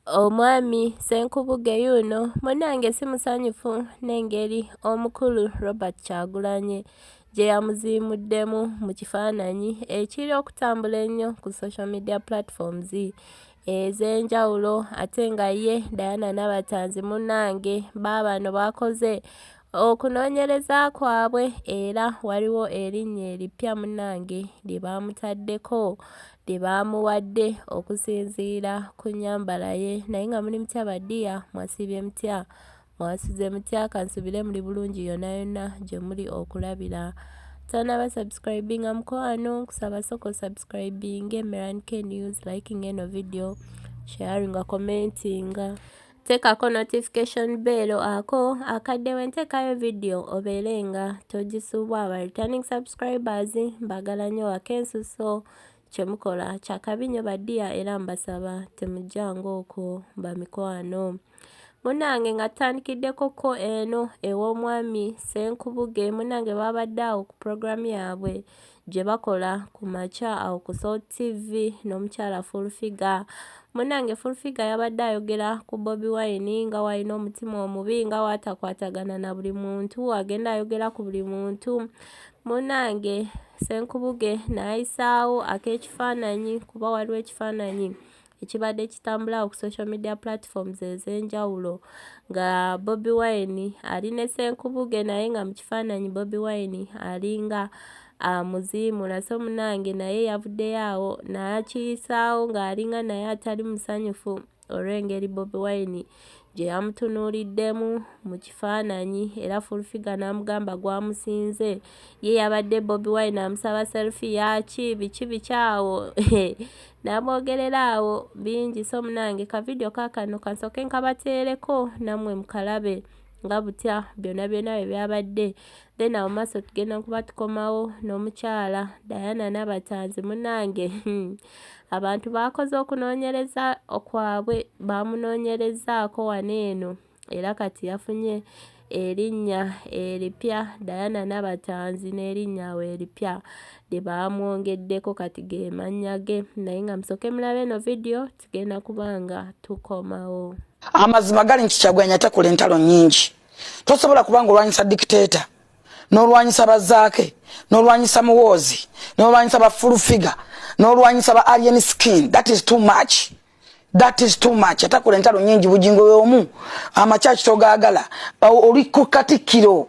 Omwami Ssenkubuge yuuno munange simusanyufu n'engeri omukulu Robert Kyagulanyi gyeyamuziimuddemu mu kifaananyi ekiri okutambula ennyo ku social media platforms ez'enjawulo ate nga ye Diana Nabatanzi munange baabano bakoze Okunoonyereza kwabwe era waliwo erinnya erippya munnange lye baamutaddeko lye baamuwadde okusinziira ku nnyambala ye naye nga muli mutya badiya mwasiibye mutya mwasuze mutya kansubire muli bulungi yonna yonna gye muli okulabira tonaba subscribinga mukwano nkusaba soko subscribinge merank news liking eno video sharinga commentinga Tekako notification bell ako akadde wentekayo video obeere nga togisubwa ba returning subscribers mbagala nyo wakensuso kyemukola kyakabi nyo badia era mbasaba temujjanga okwo bamikwano munange nga tutandikiddeko ko eno ew'omwami senkubuge munange babadde awo ku program yaabwe gye bakola ku makya awo ku Salt TV n'omukyala Full Figure munange Full Figure yabadde ayogera ku Bobi Wine nga walina omutima omubi nga watakwatagana na buli muntu agenda ayogera ku buli muntu munange Senkubuge n'ayisaawo ak'ekifaananyi kuba waliwo ekifaananyi ekibadde kitambulawo ku social media platforms ez'enjawulo nga Bobi Wine ali ne Ssenkubuge naye nga mu kifaananyi Bobi Wine alinga amuziimula so munange naye yavuddeyo awo n'akiyisaawo ng'alinga naye atali musanyufu olw'engeri Bobi Wine gye yamutunuuliddemu mu kifaananyi era Full Figure n'amugamba gwamusinze ye yabadde Bobi Wine amusaba selfie yaaki biki biki awo n'amwogerera awo bingi so munange ka vidiyo kaakano kansooke nkabateereko nammwe mukalabe nga butya byonna byonna bye byabadde then awo maaso tugenda kuba tukomawo n'omukyala Diana Nabatanzi munange hmm. abantu baakoze okunoonyereza kwabwe baamunoonyerezaako wano eno era kati yafunye erinnya eripya Diana Nabatanzi n'erinnya awo eripya lye baamwongeddeko kati ge mannya ge naye nga musooke mulabe eno vidiyo tugenda kubanga tukomawo amazima gali nti kyagulanyi atakula entalo nyingi tosobola kubanga olwanyisa dictator nolwanyisa bazaake nolwanyisa muwoozi nolwanyisa ba full figure nolwanyisa ba alien skin that is too much that is too much atakula entalo nyingi bujingo yomu amakyaki togagala oli kukatikkiro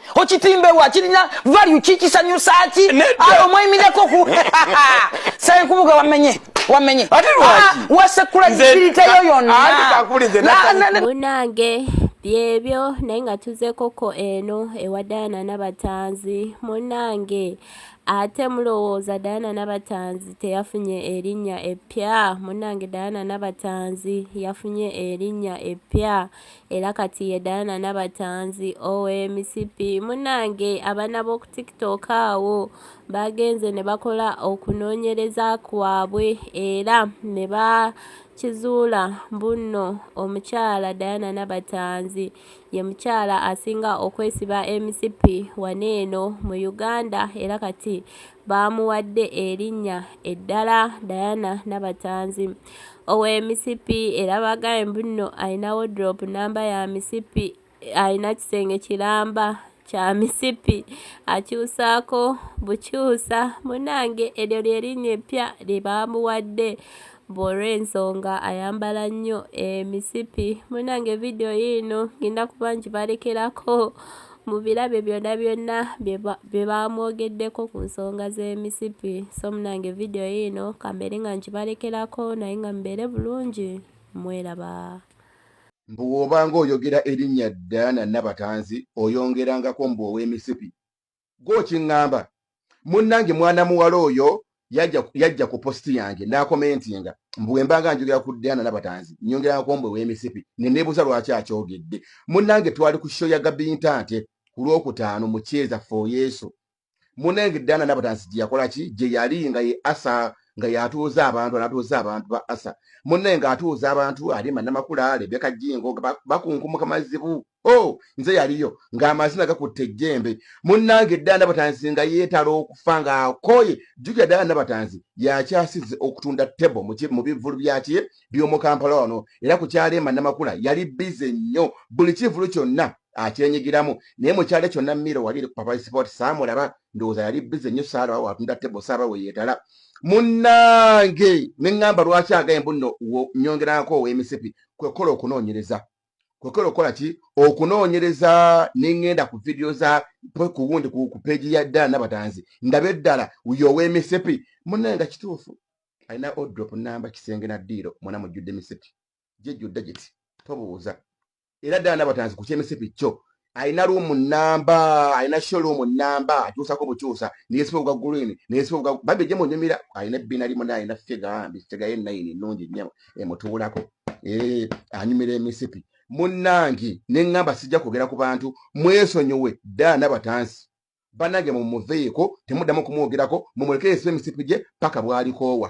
okitimbebwa kirina value kikisanyusa ki awo mwemireko ku senkubuga wamenye wamenye ah, wasekula kikiriteyo yonnamunange byebyo naye nga tuzekoko eno ewa dayana nabatanzi munange ate mulowooza dayana nabatanzi teyafunye erinnya eppya munange dayana nabatanzi yafunye erinnya eppya Era kati ye Diana Nabatanzi owe misipi munange abana b'oku tiktok awo bagenze ne bakola okunoonyereza kwabwe era ne ba kizuula mbunno omukyala Diana Nabatanzi ye mukyala asinga okwesiba emisipi wano eno mu Uganda era kati baamuwadde erinnya eddala Diana Nabatanzi ow'e Misipi era baagambye mbu nno alina woduloopu nnamba ya misipi alina kisenge kiramba kya misipi akyusaako bukyusa munnange eryo lye linnya eppya lye baamuwadde Bwolwensonga ayambala nnyo emisipi. Munange video yiino ngenda kuba njibalekerako mubirabe byonna byonna byebamwogeddeko ku nsonga z'emisipi. So munange video yiino kambeere nga njibalekerako naye nga mubeere bulungi mweraba. Mbu wobanga oyogera erinnya Diana Nabatanzi oyongerangako mbu ow'emisipi. gwokiŋŋamba munnange mwana muwala oyo yajja ku positi yange n'akomentinga mbu bwe mbanga njogera ku diana nabatanzi nyongerako mbwe w'emisipi ne neebuuza lwaki akyogedde munnange twali ku show ya gabintante ku lwokutaano mu kyeza fo yesu munnange diana nabatanzi gye yakola ki gye yali nga ye asa nga yatuuza abantu anatuuza abantu ba asa munnange atuuza abantu ali manamakula lebeka jingo bakunkumuka mazibu o oh, nze yaliyo ng'amazina gakutte ejjembe munnange ddala nabatanzi nga yeetala okufa ng'akooye jjukira ddala nabatanzi yakyasize okutunda tebo mu bivulu byakye by'omu kampala wano era ku kyaleema namakula yali bize nnyo buli kivulu kyonna akyenyigiramu naye mukyalo kyonna miro wali eri kupapaisipoti saamulaba ndowooza yali bize nnyo saalawa watunda tebo saaba we yeetala munnange ne ŋŋamba lwaki agaye mbuno nyongerako ow'emisipi kwe kukola okunoonyereza kwekera okukola ki okunoonyereza nengenda ku vidiyo za kuwundi ku peegi ya ddala nabatanzi ndaba eddala uyo ow'emisipi munaye nga kituufu alina odrop namba kisenge na ddiiro mwana mujjudde emisipi gyejjudde giti tobuuza era ddala nabatanzi ku kyemisipi kyo alina luumu namba alina sho luumu namba atuusako butuusa neyesiba obwa green neyesiba obwa bambi ejje munyumira alina ebbina limu naye alina figa ambi figa ye nayini nnungi nnyo emutuulako eh, anyumira emisipi munnange ne ŋŋamba sijja kwogera ku bantu mwesonyiwe ddala nabatansi banange mumuveeko temuddamu kumwogerako mumulekere esiba emisipi gye paka bwalikoowa